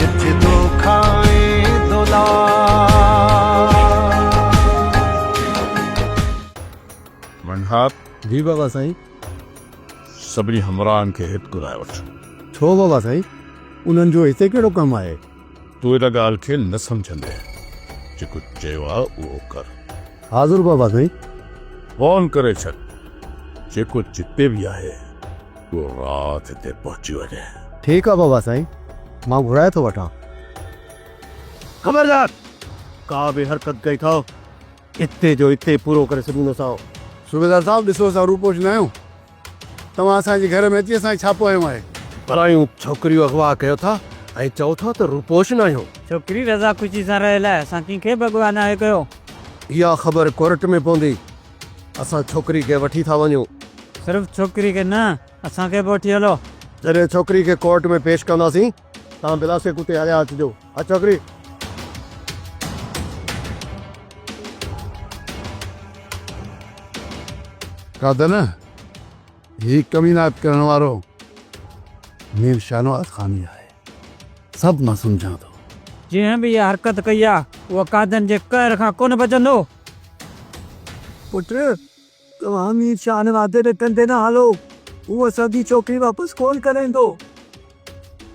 جت دوکا ۽ دولار. جي بابا سائين. سڀني همراهن کي هت گهرائي وٺ. ڇو بابا سائين انهن جو هتي ڪهڙو ڪم آهي. تون ان ڳالهه کي نه سمجهندين جيڪو چيو آهي اهو ڪر. حاضر بابا سائين. فون ڪري ڇڏ جيڪو جتي به آهي. تون رات هتي پهچي وڃ. ٺيڪ آ بابا سائين مان گهرائي ٿو وٺان. خبردار! ڪا به حرڪت ڪئي ٿؤ اتي جو اتي پورو ڪري ڇڏيندوسانو. صوبيدار صاحب ڏسو اسان روپوش نه آهيون توهان اسان جي گهر ۾ اچي اسان کي ڇاپو هنيو آهي. پرايون ڇوڪريون اغوا ڪيو ٿا ۽ چئو ٿا ته روپوش نه آهيون. ڇوڪري رضا خوشي سان رهيل آهي اسان ڪنهن کي به اغوا ناهي ڪيو. اها خبر ڪورٽ ۾ پوندي اسان ڇوڪري کي وٺي ٿا وڃون. صرف ڇوڪري کي نه اسان کي به وٺي هلو. جڏهن ڇوڪري کي ڪورٽ ۾ پيش ڪنداسين توهان بلا شڪ اتي هليا اچجو. ها ڇوڪري. ڪا ته نه هي ڪمينات ڪرڻ وارو مير شاهنواز خان ئي آهي. سڀ مان سمجهان ٿو. جنهن به اها حرڪت ڪئي آ، اهو قاعدن جي قهر کان ڪونه بچندو. پٽ، توهان مير شاهه ني وعدي تي ٽنڊي نه هالو، هو اسان جي ڇوڪري واپس ڪونه ڪرائيندو.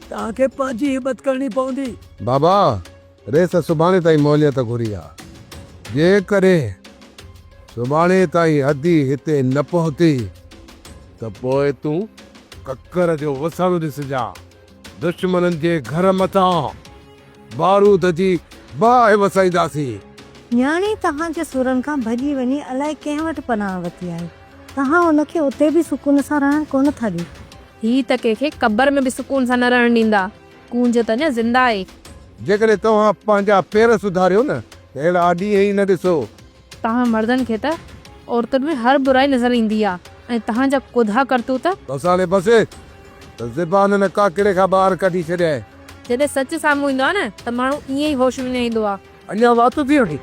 توهان کي پنهنجي همت ڪرڻي پوندي. بابا! ريس سڀاڻي تائين مهليت گهري ها. جيڪڏهن سڀاڻي تائين ادي هتي نه پهتي ته پوء تون ڪڪر جو وسڻ ڏسجان. دشمنن جي گهر مٿان بارود جي باهه وسائينداسين. نياڻي توهان جي سورن کان ڀڄي وڃي الائي ڪنهن وٽ پناهه وتي آهي. توهان ان کي اتي به سڪون سان رهڻ ڪونه ٿا ڏيو. هي ته ڪنهن کي قبر ۾ به سڪون سان نه رهڻ ڏيندا. ڪونج ته اڃا زنده آهي. جيڪڏهن توهان پنهنجا پير سڌاريو نه ته اهڙا ڏينهن ئي نه ڏسو. توهان مردن کي ته عورتن ۾ هر برائي نظر ايندي آهي ۽ توهان جا ڪوڌا ڪرتوت. بس هاڻي بس ته زبان هن ڪاڪڙي کان ٻاهر ڪڍي ڇڏيائين. جڏهن سچ سامهون ايندو آهي نه ته ماڻهو ائين ئي هوش وڃائيندو آهي. اڃا وات ٿي وٺي.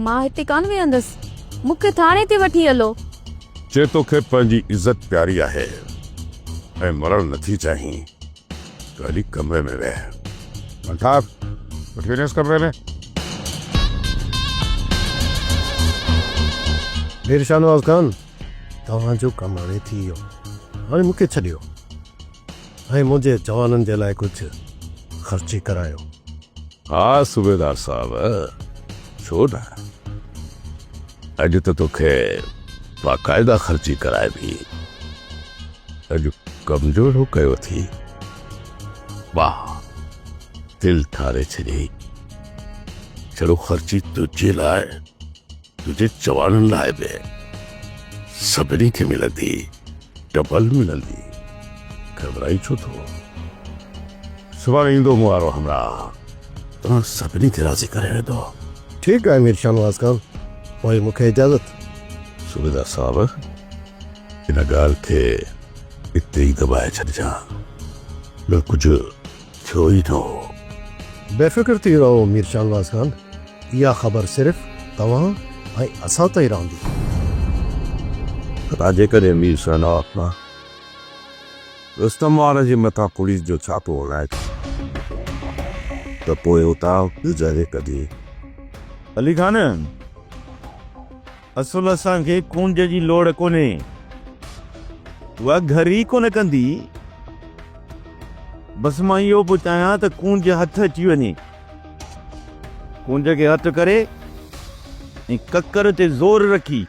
مان هتي ڪانه ويهندس مون کي ٿاڻي تي وٺي هلو. چي توکي پنهنجي عزت پياري آهي ۽ مرڻ نٿي چاهين. ڪالي ڪمري ۾ ويهه الطاف وٺي وڃيس ڪمري ۾ مير شاهنواز خان توهان جو ڪم هاڻي ٿي ويو هاڻي مون کي ڇڏيو ۽ منهنجي جوانن جي لاء ڪجهه خرچي ڪرايو ها صوبيدار صاحب ڇو نه. اڄ ته توکي باقاعده خرچي ڪرائبي. اڄ ڪم جو اهڙو ڪيو اٿي. واهه دل ٺاري ڇڏيئي. جهڙو خرچي تنهنجي لاء تنهنجي چواڻن لاء به سڀني کي ملندي ڊبل ملندي. گهٻرائين ڇو ٿو. سڀاڻي ايندو مون وارو همراهه. توهان سڀني کي راضي ڪري ويندو. ٺيڪ آهي مير شاهنواز خان، پوء مون کي اجازت. صوبيدار صاحب، ان ڳالهه کي اتي ئي دٻائي ڇڏجان، ٻيو ڪجهه ٿيو ئي نه هو. بي فڪر ٿي رهو مير شاهنواز خان، اها خبر صرف توهان ۽ اسان تائين رهندي. خدا جيڪڏهن مير شاهنواز خان. رستم وارن جي مٿان پوليس جو ڇاپو هلائي ٿي ته پوء اتان گذري ڪڍي. علي خان، اصل اسان کي ڪونج جي لوڙ ڪونهي. اها گهر ئي ڪونه ڪندي. بس مان اهو پيو چاهيان ته ڪونج هٿ اچي وڃي. ڪونج کي هٿ ڪري ۽ ڪڪر تي زور رکي.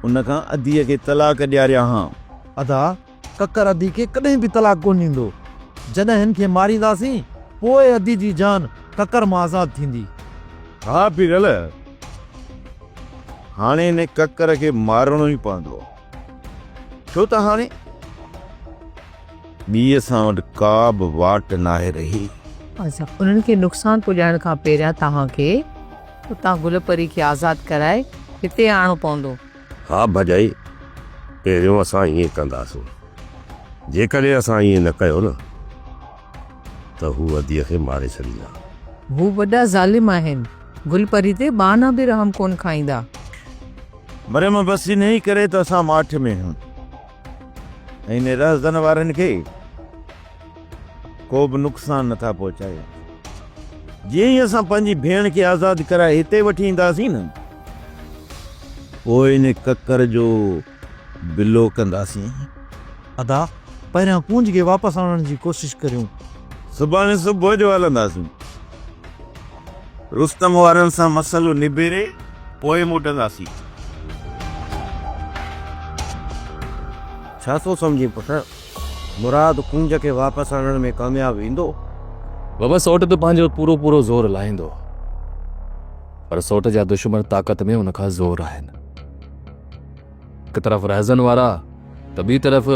ان کان اديء کي طلاق ڏياريا هان. ادا، ڪڪر ادي کي ڪڏهن به طلاق ڪونه ڏيندو. جڏهن هن کي مارينداسين، پوء ادي جي جان ڪڪر مان آزاد ٿيندي. ها پيرل، هاڻي هن ڪڪر کي مارڻو ئي پوندو. ڇو ته هاڻي ٻيء اسان وٽ ڪا به واٽ ناهي رهي. اسان انهن کي نقصان پڄائڻ کان پهريان توهان کي اتان گل پري کي آزاد ڪرائي هتي آڻڻو پوندو. ها ڀڄائي، پهريون اسان ائين ڪنداسون. جيڪڏهن اسان ائين نه ڪيو نه. ته هو اديء کي ماري ڇڏيندا. هو وڏا ظالم آهن. گل پري تي ٻانهن به رحم ڪونه کائيندا. مريم، بس انهيء ڪري ته اسان ماٺ ۾ آهيون ۽ انهيء رهزن وارن کي ڪو به نقصان نه ٿا پهچايون. جيئن ئي اسان پنهنجي ڀيڻ کي آزاد ڪرائي هتي وٺي اينداسين نه، پوء انهيء ڪڪر جو. بلو ڪنداسين ادا پهريان ڪونج کي واپس آڻڻ جي ڪوشش ڪريون. صبحاڻي صبح جو هلنداسين. رستم وارن سان مسئلو نبيري پوء موٽنداسين. ڇا ٿو سمجهين پٽ؟ مراد ڪونج کي واپس آڻڻ ۾ ڪامياب ويندو؟ بابا سوٽ ته پنهنجو پورو پورو زور لاهيندو پر سوٽ جا دشمن طاقت ۾ ان کان زور آهن. هڪ طرف رهزن وارا ته ٻي طرف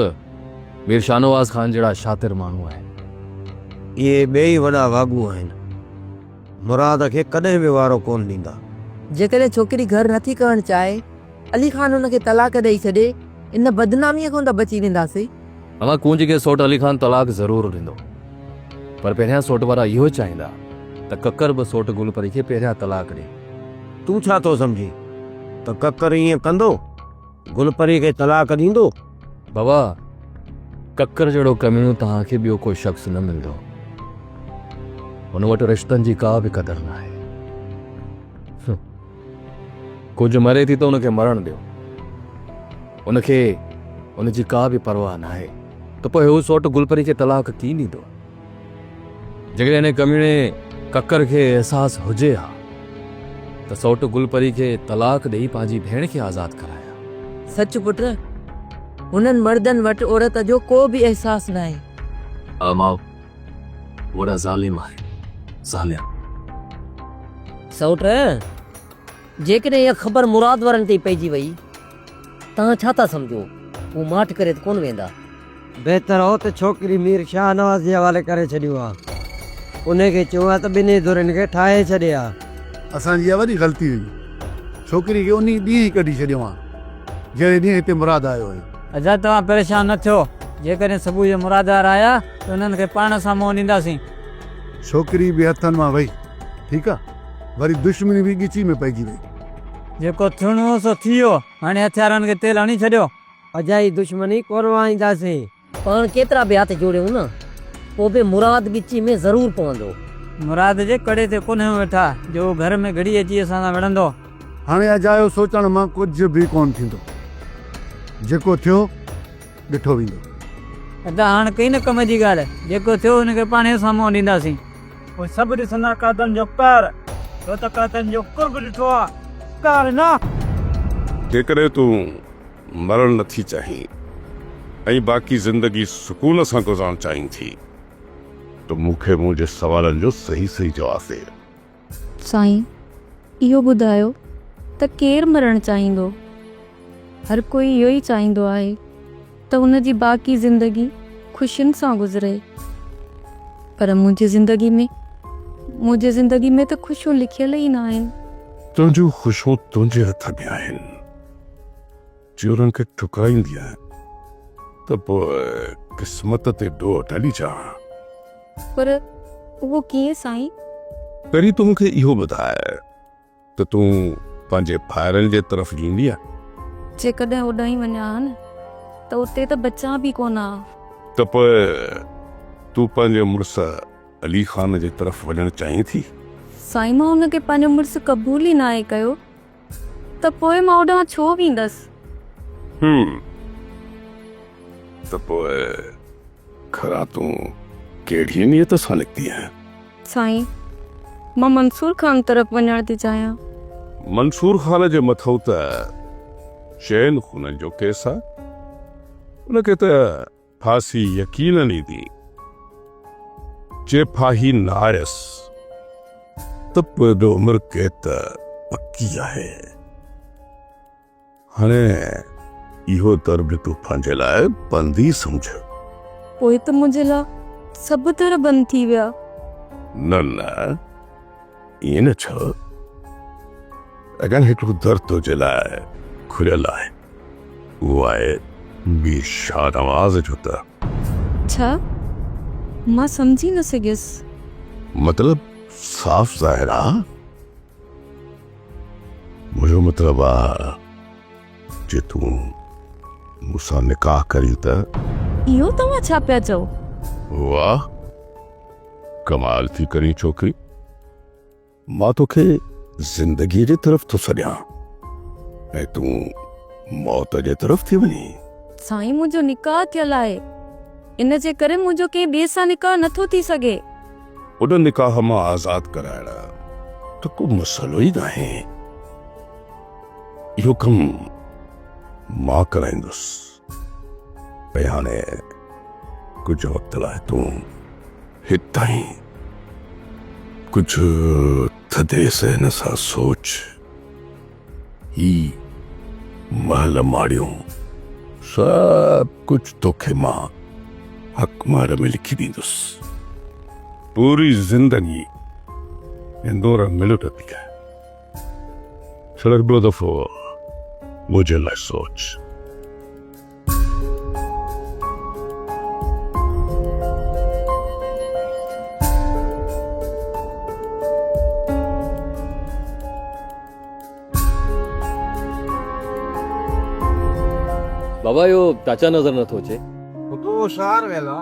مير شاهنواز خان جهڙا شاطر ماڻهو آهن. اهي ٻئي ئي وڏا واڳو آهن. مراد کي ڪڏهن به وارو ڪونه ڏيندا. جيڪڏهن ڇوڪري گهر نه ٿي ڪرڻ چاهي، علي خان هن کي طلاق ڏئي ڇڏي، ان بدناميء کان ته بچي وينداسين. اوهان ڪونج کي سوٽ علي خان طلاق ضرور ڏيندو پر پهريان سوٽ وارا اهو چاهيندا ته ڪڪر به سوٽ گل پري کي پهريان طلاق ڏي. تون ڇا ٿو سمجهين ته ڪڪر ائين ڪندو؟ گل پري کي طلاق ڏيندو؟ بابا ڪڪر جهڙو ڪميڻو توهان کي ٻيو ڪو شخص نه ملندو. هن وٽ رشتن جي ڪا به قدر ناهي. ڪجهه مري ٿي ته ان کي مرڻ ڏيو. ان کي ان جي ڪا به پرواهه ناهي ته پوء هو سوٽ گلپري کي طلاق ڪين ڏيندو. جيڪڏهن ان ڪميڻي ڪڪر کي احساس هجي ها ته سوٽ گلپري کي طلاق ڏيئي پنهنجي ڀيڻ کي آزاد ڪرائي ها. سچ پٽ، هنن مردن وٽ عورت جو ڪو به احساس ناهي. امان! وڏا ظالم آهن ظالم. سئوٽ! جيڪڏهن اها خبر مراد وارن تي پئجي وئي، توهان ڇا ٿا سمجهو؟ هو ماٺ ڪري ته ڪونه ويندا؟ بهتر هو ته ڇوڪري مير شاهنواز جي حوالي ڪري ڇڏيون ها. انهي کي چئون ها ته ٻنهي ڌرين کي ٺاهي ڇڏي ها. اسان جي اها وڏي غلطي هئي. ڇوڪري کي انهي ڏينهن ئي ڪڍي ڇڏيون ها، جهڙي ڏينهن هتي مراد آيو هيو. حضرت توهان پريشان نه ٿيو، جيڪڏهن صبح جو مرادگار آيا ته انهن کي پاڻ سان منهن ڏينداسين. ڇوڪري به هٿن مان وئي، ٺيڪ آ، وري دشمني به ڳچي ۾ پئجي وئي. جيڪو ٿيڻو هو سو ٿي ويو، هاڻي هٿيارن کي تيل هڻي ڇڏيو. اجائي دشمني ڪونه وهائينداسين. پاڻ ڪيترا به هٿ جوڙيون نه، پوء به مراد ڳچي ۾ ضرور پوندو. مراد جي ڪڙي تي ڪونه ويٺا، جو هو گهر ۾ گهڙي اچي اسان سان وڙهندو. هاڻي اجايو سوچڻ مان ڪجهه به ڪونه ٿيندو. جيڪو ٿيو، ڏٺو ويندو. ادا هاڻ ڪئي نه ڪم جي ڳالهه، جيڪو ٿيو ان کي پاڻهي سان منهن ڏينداسين. پوء سڀ ڏسندا قاتلن جو قهر، تو ته قاتلن جو قرب ڏٺو آ، قهر نه! جيڪڏهن تون مرڻ نه ٿي چاهين ۽ باقي زندگي سڪون سان گذارڻ چاهين ٿي ته مون کي منهنجي سوالن جو صحيح صحيح جواب ڏي. سائين اهو ٻڌايو ته ڪير مرڻ چاهيندو؟ هر ڪوئي اهو ئي چاهيندو آهي ته ان جي باقي زندگي خوشين سان گذري پر منهنجي زندگي ۾ منهنجي زندگي ۾ ته خوشيون لکيل ئي ناهن. تنهنجون خوشيون تنهنجي هٿ ۾ آهن. چورن کي ٺڪرائيندي آهيان ته پوء قسمت تي ڏوهه ڍلي چاهان. پر اهو ڪيئن سائين؟ پهرين تون مون کي اهو ٻڌاء ته تون پنهنجي ڀائرن جي طرف ايندينء؟ جيڪڏهن اوڏانهن وڃان ها نه ته اتي ته بچان به ڪونه ها. ته پوء تون پنهنجي مڙس علي خان جي طرف وڃڻ چاهين ٿي؟ سائين مان ان کي پنهنجو مڙس قبول ئي ناهي ڪيو. ته پوء مان اوڏانهن ڇو ويندس؟ هوم، ته پوء کلا تون ڪهڙيء نيت سان نڪتي آهين؟ سائين، مان منصور خان طرف وڃڻ ٿي چاهيان. منصور خان جي مٿئون ته چئن خونن جو ڪيس آهي. ان کي ته ڦاسي يقينن ايندي، جي ڦاهي نه آيس ته پوء به عمر قيد ته پڪي آهي. هاڻي اهو در به تون پنهنجي لاء بند ئي سمجهه. پوء ته منهنجي لاء سڀ در بند ٿي ويا. نه نه، ائين نه چئو. اڳيان هڪڙو در تنهنجي لاء کليل آهي. اهو آهي مير شاهنواز جو ته. ڇا؟ مان سمجهي نه سگهيس. مطلب صاف ظاهر آ. منهنجو مطلب آ جي تون مون سان نڪاح ڪرين ته. اهو توهان ڇا پيا چئو؟ واهه ڪمال ٿي ڪرين ڇوڪري. مان توکي زندگيء جي طرف ٿو سڏيان ۽ تون موت جي طرف ٿي وڃين. سائين منهنجو نڪاح ٿيل آهي ان جي ڪري منهنجو ڪنهن ٻئي سان نڪاح نه ٿو ٿي سگهي. ان نڪاح مان آزاد ڪرائڻ ته ڪو مسئلو ئي ناهي. اهو ڪم مان ڪرائيندس. ۽ هاڻي ڪجهه وقت لاء تون هتائين ڪجهه ٿڌي ذهن سان سوچ. هي محل ماڙيون سڀ ڪجهه توکي مان حق مهر ۾ لکي ڏيندس. پوري زندگي هندور ملٽ ٿي ڪر. ڇڙر ٻيو دفعو منهنجي لاء سوچ. بابا اهو چاچا نظر نه ٿو اچي. پٽو شهر ويل آ.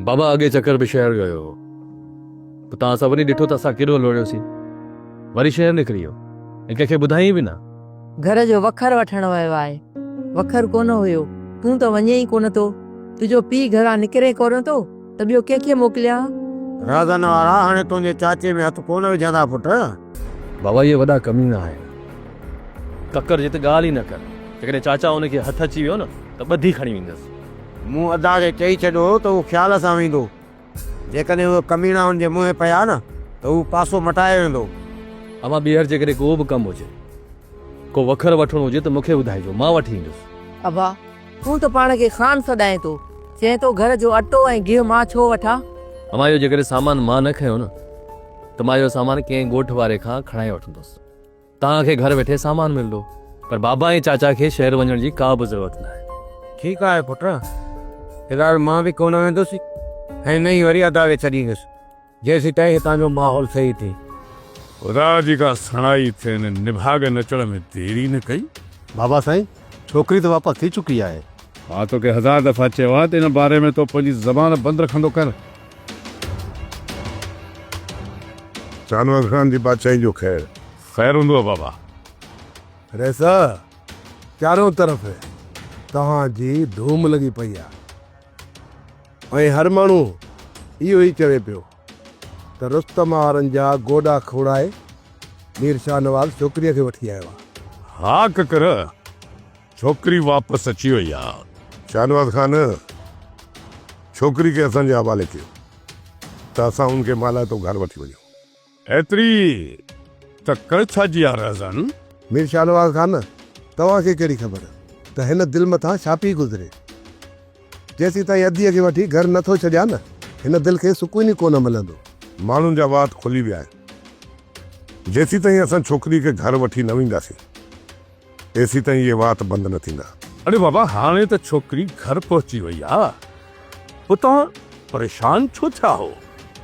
بابا اڳي چڪر به شهر ويو هو. اتان اسان وڃي ڏٺو ته اسان ڪيڏو لوڙهيوسين. وري شهر نڪري ويو ۽ ڪنهن کي ٻڌايائين به نه. گهر جو وکر وٺڻ ويو آهي. وکر ڪونه هيو. تون ته وڃين ئي ڪونه ٿو. تنهنجو پيء گهران نڪري ڪونه ٿو ته ٻيو ڪنهن کي موڪليان؟ رازن وارا هاڻي تنهنجي چاچي ۾ هٿ ڪونه وجهندا پٽ. بابا اهي وڏا ڪمينا آهن. ڪڪر جي ته ڳالهه ئي نه ڪر. جيڪڏهن چاچا ان کي هٿ اچي ويو نه ته ٻڌي کڻي ويندس. مون ادا کي چئي ڇڏيو هو ته هو خيال سان ويندو. جيڪڏهن اهي ڪميڻا ان جي منهن پيا نه ته هو پاسو مٽايو ويندو. اوهان ٻيهر جيڪڏهن ڪو به ڪم هجي، ڪو وکر وٺڻو هجي ته مون کي ٻڌائجو، مان وٺي ايندس. ابا، تون ته پاڻ کي خان سڏائين ٿو، چئين ٿو گهر جو اٽو ۽ گيهه مان ڇو وٺان؟ اوهان اهو جيڪڏهن سامان مان نه کنيو نه ته مان اهو سامان ڪنهن ڳوٺ واري کان کڻائي وٺندس. توهان کي گهر ويٺي سامان ملندو پر بابا ۽ چاچا کي شهر وڃڻ جي ڪا به ضرورت ناهي. ٺيڪ آهي پٽ، في الحال مان به ڪونه ويندس ۽ نه ئي وري ادا کي ڇڏيندس جيسيتائين هتان جو ماحول صحيح ٿئي. خدا جي ڪا سڻائي ٿئي ان نڀاڳن اچڻ ۾ دير ئي نه ڪئي. بابا سائين، ڇوڪري ته واپس ٿي چڪي آهي. مان توکي هزار دفعا چيو آهي ته ان باري ۾ تو پنهنجي زبان بند رکندو ڪر. شاهنواز خان جي بادشاهي جو خير. خير هوندو آ بابا. رئيسه! چارئون طرف توهان جي ڌوم لڳي پئي آ ۽ هر ماڻهو اهو ئي چوي پيو ته رستم آرن جا گوڏا کوڙائي مير شاهنواز ڇوڪريء کي وٺي آيو آ. ها ڪڪر! ڇوڪري واپس اچي وئي آ. شاهنواز خان ڇوڪري کي اسان جي حوالي ڪيو ته اسان ان کي مالهائتو گهر وٺي وڃون. ايتري تڪڙ ڇا جي آ رهزن؟ مير شاهنواز خان توهان کي ڪهڙي خبر ته هن دل مٿان ڇا پي گذري. جيسين تائين اديء کي وٺي گهر نه ٿو ڇڏيان نه هن دل کي سڪون ئي ڪونه ملندو. ماڻهن جا وات کلي ويا آهن. جيسين تائين اسان ڇوڪري کي گهر وٺي نه وينداسين تيسين تائين اهي وات بند نه ٿيندا. اڙي بابا هاڻي ته ڇوڪري گهر پهچي وئي آ پوء توهان پريشان ڇو ٿيا هو.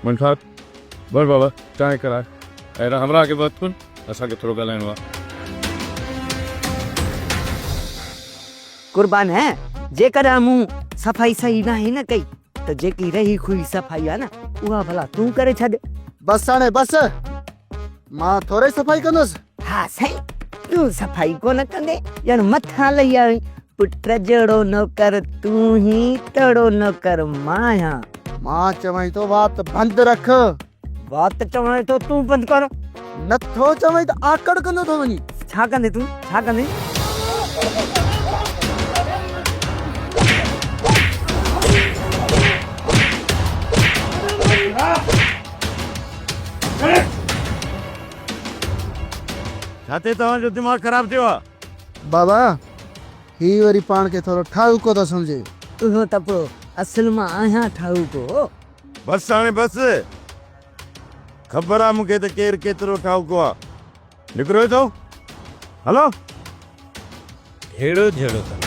منشار، وٺ بابا چانهه ڪراء ۽ هن همراهه کي به هٿ ڪن اسان کي ٿورو ڳالهائڻو آ. قربان هه جيڪڏهن مون صفائي صحيح ناهي نه ڪئي ته جيڪي رهي کهي صفائي آ نه اها ڀلا تون ڪري ڇڏ. بس هاڻي بس. مان ٿورئي صفائي ڪندس. ها سائين تون صفائي ڪونه ڪندي ڄڻ مٿان لهي آيو آهين. پٽ جهڙو نوڪر تون هي تهڙو نوڪر مان آهيان. مان چوانء ٿو وات بند رک. وات چوانء ٿو تون بند ڪر. نه ٿو چوانء ته آڪڙ ڪندو ٿو وڃين. ڇا ڪندين تون ڇا ڪندين. ڇا تي توهان جو دماغ خراب ٿيو آ. بابا هي وري پاڻ کي ٿورو ٺاهوڪو ٿو سمجهي. اهو ته پوء اصل مان آهيان ٺاهوڪو. بس هاڻي بس. خبر آ مون کي ته ڪير ڪيترو ٺاهوڪو آ. نڪرو هتو هلو هيڙو جهيڙو ڪن.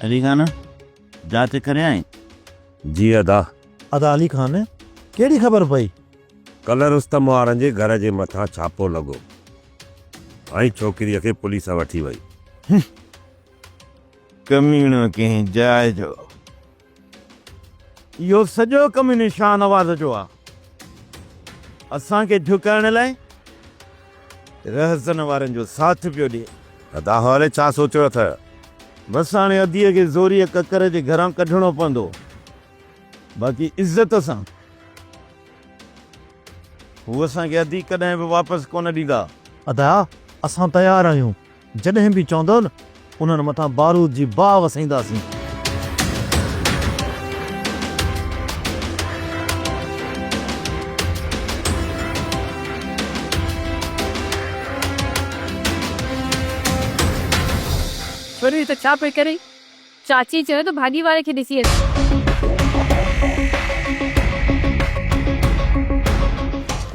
علي خان جاچ ڪريائين؟ جي ادا. ادا علي خان ڪهڙي خبر پئي؟ ڪلهه رستم وارن جي گهر جي مٿان ڇاپو لڳو. ۽ ڇوڪريء کي پوليس وٺي وئي. هي ڪميڻو ڪنهن جاء جو. اهو سڄو ڪم ان شاهنواز جو آ. اسان کي جهڪائڻ لاء رهزن وارن جو ساٿ پيو ڏئي. ادا هالي ڇا سوچيو اٿئه؟ بس هاڻي اديء کي زوريء ڪڪر جي گهران ڪڍڻو پوندو. باقي عزت سان. هو اسان کي ادي ڪڏهن به واپس ڪونه ڏيندا. ادا اسان تيار آهيون جڏهن به چوندؤ نه انهن مٿان بارود جي باهه وسائينداسين. ڇوڙي ته ڇا پئي ڪرين. چاچي چيو ته ڀاڄي واري کي ڏسي اچ.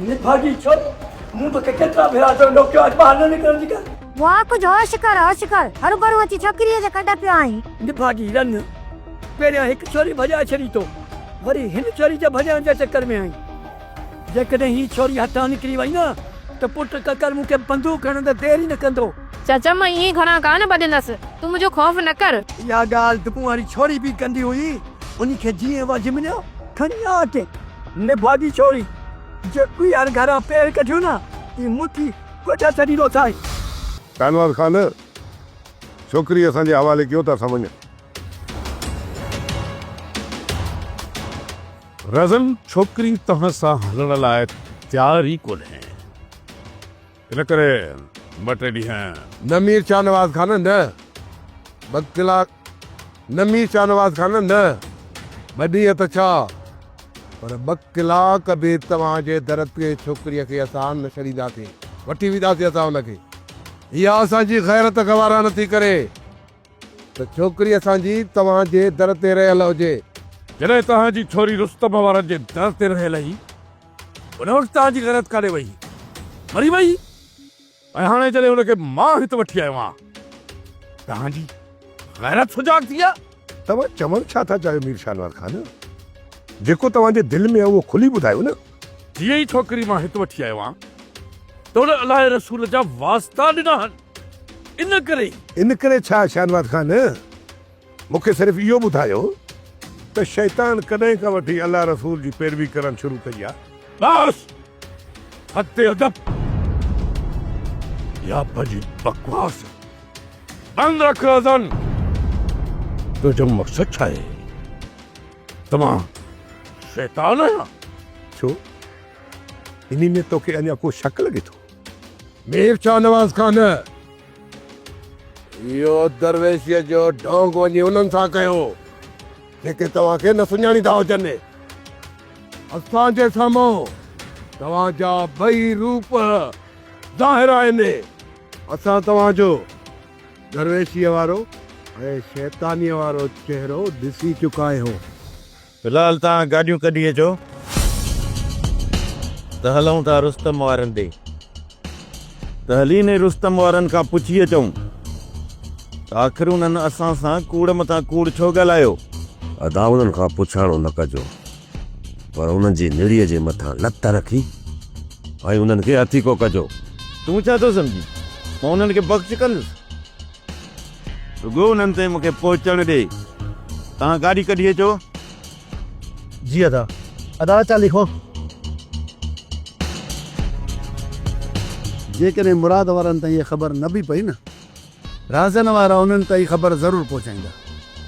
نڀاڳي ڇو ٿو؟ مون توکي ڪيترا ڀيرا چيو نوڪيو اچ ٻاهر نه نڪرڻ جي ڳالهه. واء ڪجهه هوش ڪر هوش ڪر. هروڀرو اچي ڇوڪريء جي ڪنڊ پيو آئين. نڀاڳي رن پهريان هڪ ڇوري ڀڄائي ڇڏي تو وري هن ڇوري جي ڀڄائڻ جي چڪر ۾ آئين. جيڪڏهن هي ڇوري هتان نڪري وئي نه ته پٽ ڪڪر مون کي بندوق هڻڻ ۾ دير ئي نه ڪندو. چاچا مان ائين گهڻا ڪانه ٻڌندس، تون منهنجو خوف نه ڪر. اها ڳالهه دٻون واري ڇوري به ڪندي هئي، ان کي جيئن وجهه مليو کڻي آ اچي. نڀاڳي ڇوري، جيڪو ئي هر گهران پير ڪڍيو نه تي مٺي ڪوٺا چڙهي روٿائين. شاهنواز خان، ڇوڪري اسان جي حوالي ڪيو ته اسان وڃون. رزن ڇوڪري توهان سان هلڻ لاء تيار ئي ڪونهي ان ڪري ٻه ٽي ڏينهن. نه مير شاهنواز خان نه ٻه ڪلاڪ نه مير شاهنواز خان نه ٻه ڏينهن ته ڇا پر ٻه ڪلاڪ به توهان جي در تي ڇوڪريء کي اسان نه ڇڏينداسين وٺي وينداسين اسان ان کي اها اسان جي غيرت گوارا نٿي ڪري. ته ڇوڪري اسان جي توهان جي در تي رهيل هجي. جڏهن توهان جي ڇوري رستم وارن جي در تي رهيل هئي، ان وقت توهان جي غيرت ڪاڏي وئي؟ مري وئي؟ ۽ هاڻي جڏهن ان کي مان هت وٺي آيو آهيان، توهان جي غيرت سجاڳ ٿي آهي؟ توهان چوڻ ڇا ٿا چاهيو مير شاهنواز خان؟ جيڪو توهان جي دل ۾ آهي اهو کلي ٻڌايو نه. جيئن ئي ڇوڪري مان هت وٺي آيو آهيان ته هن الله جي رسول جا واسطا ڏنا آهن ان ڪري ئي. ان ڪري ڇا شاهنواز خان مون کي صرف اهو ٻڌايو ته شيطان ڪڏهن کان وٺي الله رسول جي پيروي ڪرڻ شروع ڪئي آهي؟ بس حد ادب يا پنهنجي بڪواس بند رک اذن تنهنجو مقصد ڇا آهي؟ ته مان شيطان آهيان. ڇو؟ انهي ۾ توکي اڃا ڪو شڪ لڳي ٿو؟ مير شاهنواز کان نه. اهو درويشيء جو ڍونگ وڃي انهن سان ڪيو، جيڪي توهان کي نه سڃاڻيندا هجن. اسان جي سامهون توهان جا ٻئي روپ ظاهر آهن. اسان توهان جو. درويشيء وارو ۽ شيطانيء وارو چهرو ڏسي چڪاهيون. في الحال توهان گاڏيون ڪڍي اچو ته هلون ٿا رستم وارن ڏي. ته هلين ئي رستم وارن کان پڇي اچون ته آخر انهن اسان سان ڪوڙ مٿان ڪوڙ ڇو ڳالهايو؟ ادا انهن کان پڇاڻو نه ڪجو. پر انهن جي نڙيء جي مٿان لت رکي ۽ انهن کي هٿيڪو ڪجو. تون ڇا ٿو سمجهين؟ مان انهن کي بخش ڪندس؟ رڳو انهن تائين مون کي پهچڻ ڏي. توهان گاڏي ڪڍي اچو. جي ادا. ادا اچان ٿي خو. جيڪڏهن مراد وارن تائين اها خبر نه به پئي نه رهزن وارا انهن تائين خبر ضرور پهچائيندا.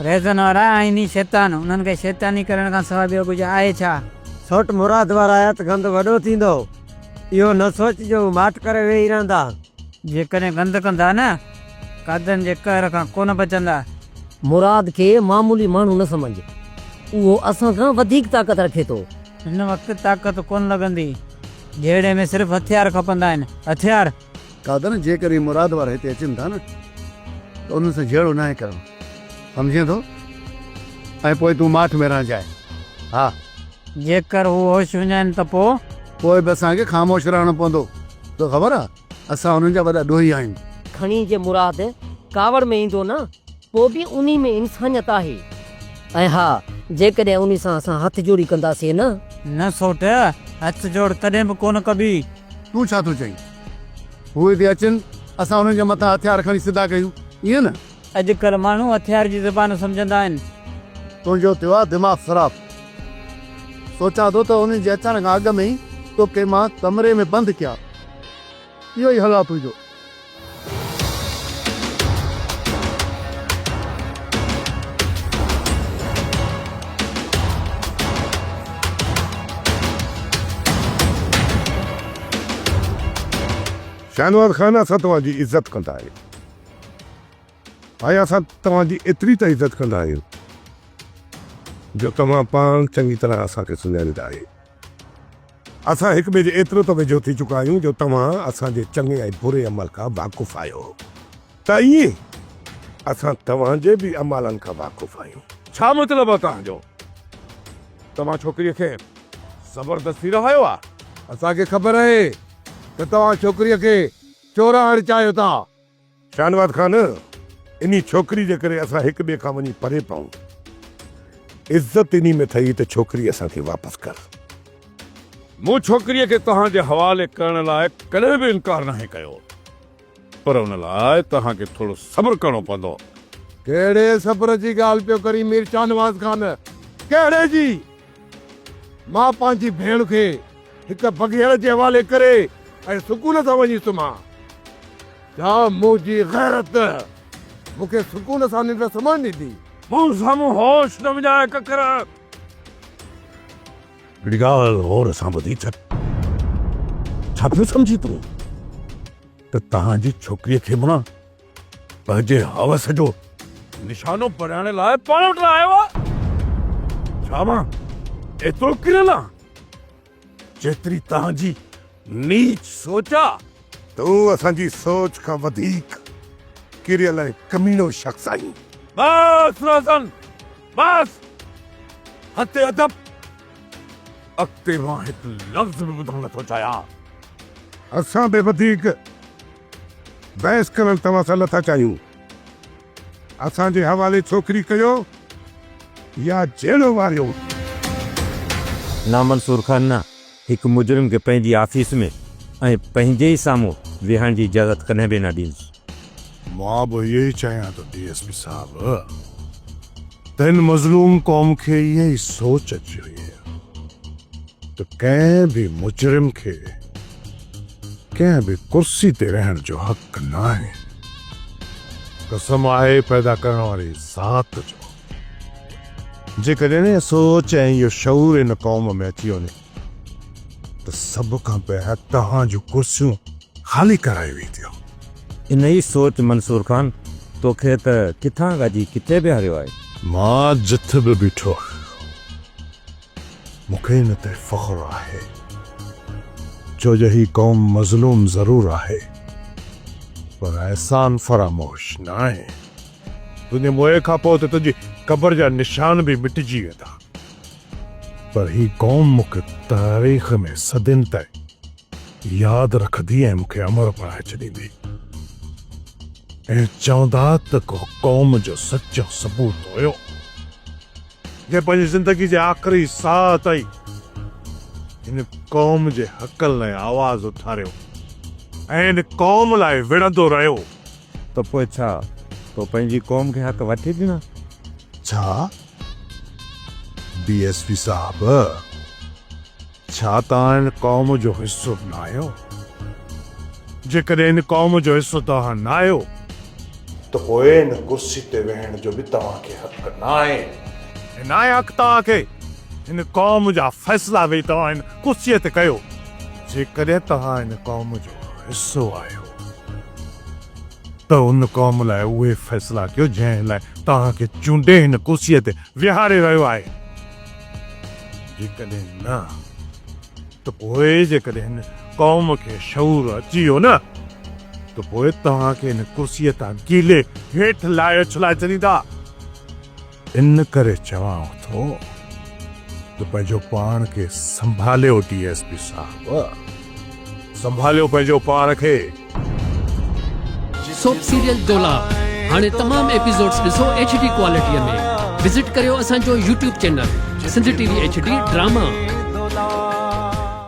رهزن وارا آئيني شيطان، انهن کي شيطاني ڪرڻ کان سواء ٻيو ڪجهه آهي ڇا؟ سوٽ مراد وارا آيا ته گند وڏو ٿيندو. اهو نه سوچ جو هو ماٺ ڪري ويهي رهندا. جيڪڏهن گند ڪندا نه، قاضين جي قهر کان ڪونه بچندا. مراد کي معمولي ماڻهو نه سمجهه، اهو اسان کان وڌيڪ طاقت رکي ٿو. هن وقت طاقت ڪونه لڳندي. جهيڙي ۾ صرف هٿيار کپندا آهن. هٿيار! قادر، جيڪر اهي مراد وارا هتي اچن ٿا نه ته انهن سان جهيڙو ناهي ڪرڻو، سمجهين ٿو؟ ۽ پوء تون ماٺ ۾ رهجانء. ها. جيڪر هو هوش هجن ته پوء؟ پوء به اسان کي خاموش رهڻو پوندو. توکي خبر آهي، اسان انهن جا وڏا ڏوهي آهيون. کڻي جي مراد ڪاوڙ ۾ ايندو نه پوء به انهي ۾ انسانيت آهي ۽ ها جيڪڏهن انهي سان اسان هٿ جوڙي ڪنداسين نه. نه سوٽ، هٿ جوڙ ڪڏهن به ڪونه ڪبي. تون ڇا ٿو چئين؟ هو هتي اچن، اسان انهن جي مٿان هٿيار کڻي سڌا ڪيون، ائين نه؟ اڄ ڪلهه ماڻهو هٿيار جي زبان سمجهندا آهن. تنهنجو ٿيو آهي دماغ خراب؟ سوچان ٿو ته انهن جي اچڻ کان اڳ ۾ ئي توکي مان ڪمري ۾ بند ڪيان. اهو ئي حل آهي تنهنجو. شاهنواز خان اسان توهان جي عزت ڪندا آهيون ۽ اسان توهان جي ايتري ته عزت ڪندا آهيون جو توهان پاڻ چڱي طرح اسان کي سڃاڻيندا آهيو. اسان هڪ ٻئي جي ايترو ته ويجهو ٿي چڪا آهيون جو توهان اسان جي چڱي ۽ بري عمل کان واقف آهيو ته ائين اسان توهان جي به اعمالن کان واقف آهيون. ڇا مطلب آهي توهان جو؟ توهان ڇوڪريء کي زبردستي رهايو آهي؟ اسان کي خبر آهي ته توهان ڇوڪريء کي چورائڻ چاهيو ٿا. شاهنواز خان! انهي ڇوڪري جي ڪري اسان هڪ ٻئي کان وڃي پري پئون. عزت انهي ۾ ٿئي ته ڇوڪري اسان کي واپس ڪر. مون ڇوڪريء کي توهان جي حوالي ڪرڻ لاء ڪڏهن به انڪار ناهي ڪيو. پر ان لاء توهان کي ٿورو صبر ڪرڻو پوندو. ڪهڙي صبر جي ڳالهه پيو ڪرين مير شاهنواز خان! ڪهڙي جي؟ مان پنهنجي ڀيڻ کي هڪ بگهيڙ جي حوالي ڪري ۽ سڪون سان وڃي سمهان. ڇا منهنجي غيرت مون کي سڪون سان ننڊ سمهڻ ڏيندي؟ مون سامهون هوش نه وڃاء ڪڪر! هڪڙي ڳالهه غور سان ٻڌي ڇڏ. ڇا پيو سمجهين تون ته تنهنجي ڇوڪريء کي مان پنهنجي حوس جو نشانو پرائڻ لاء پاڻ وٽ نه آيو آهي؟ ڇا مان ايترو ڪريل آهيان، جيتري توهان جي نيچ سوچ آهي؟ تون اسان جي سوچ کان وڌيڪ ڪريل ۽ ڪميڻو شخص آهين. بس روزن، بس! حد ادب! اڳتي مان هڪ لفظ به ٻڌڻ نه ٿو چاهيان. اسان به وڌيڪ. بحث ڪرڻ توهان سان نٿا چاهيون. اسان جي حوالي ڇوڪري ڪيو يا جيلو واريو. نامنصور خان نه هڪ مجرم کي پنهنجي آفيس ۾ ۽ پنهنجي ئي سامهون ويهڻ جي اجازت ڪڏهن به نه ڏيندس. مان به اهو ئي چاهيان ٿو ڊي ايس پي صاحب ته هن مظلوم قوم کي اها ئي سوچ اچي وئي آهي ته ڪنهن به مجرم کي ڪنهن به ڪرسي تي رهڻ جو حق ناهي. قسم آهي پيدا ڪرڻ واري ذات جو. جيڪڏهن اها سوچ ۽ اهو شعور هن قوم ۾ اچي وڃي ته سڀ کان پهريان توهان جون ڪرسيون خالي ڪرايون وينديون. انهيء سوچ منصور خان توکي ته ڪٿان کان اچي ڪٿي بيهاريو آهي. مان جٿ به بيٺو آهيان. مون کي ان تي فخر آهي ڇو جو هي قوم مظلوم ضرور آهي پر احسان فراموش ناهي. تنهنجي موئي کان پوء ته تنهنجي قبر جا نشان به مٽجي ويندا پر هي قوم مون کي تاريخ ۾ صدين تائين ياد رکندي ۽ مون کي امر بڻائي ڇڏيندي ۽ چوندا ته ڪو قوم جو سچو سپوت هيو. جنهن پنهنجي زندگي جي آخري ساهه تائين هن قوم جي حقن لاء آواز اٿاريو ۽ هن قوم لاء وڙهندو رهيو. ته پوء ڇا تو پنهنجي قوم کي حق وٺي ڏنا؟ ڇا ڊي ايس پي صاحب! ڇا توهان ان قوم جو حصو ناهيو؟ جيڪڏهن ان قوم جو حصو توهان ناهيو ته پوء ان ڪرسي تي ويهڻ جو به توهان کي حق ناهي. ۽ ناهي حق توهان کي ان قوم جا فيصلا ويهي توهان ان ڪرسي تي ڪيو جيڪڏهن توهان ان قوم جو حصو آهيو ته ان قوم لاء اهي فيصلا ڪيو جنهن لاء توهان کي چونڊي هن ڪرسي تي ويهاري رهيو آهي. جيڪڏهن نه ته پوء جيڪڏهن هن قوم کي شعور اچي ويو نه ته پوء توهان کي هن ڪرسيء تان ڪيلي هيٺ لاهي اڇلائي ڇڏيندا. ان ڪري چوانو ٿو ته پنهنجو پاڻ کي سنڀاليو ڊي ايس پي صاحب. سنڀاليو پنهنجو پاڻ کي. سوپ سيريل دولاب هاڻي تمام ايپيسوڊز ڏسو ايڇ ڊي ڪوالٽي ۾ وزٽ ڪريو اسان جو YouTube channel Sindh T V H D drama.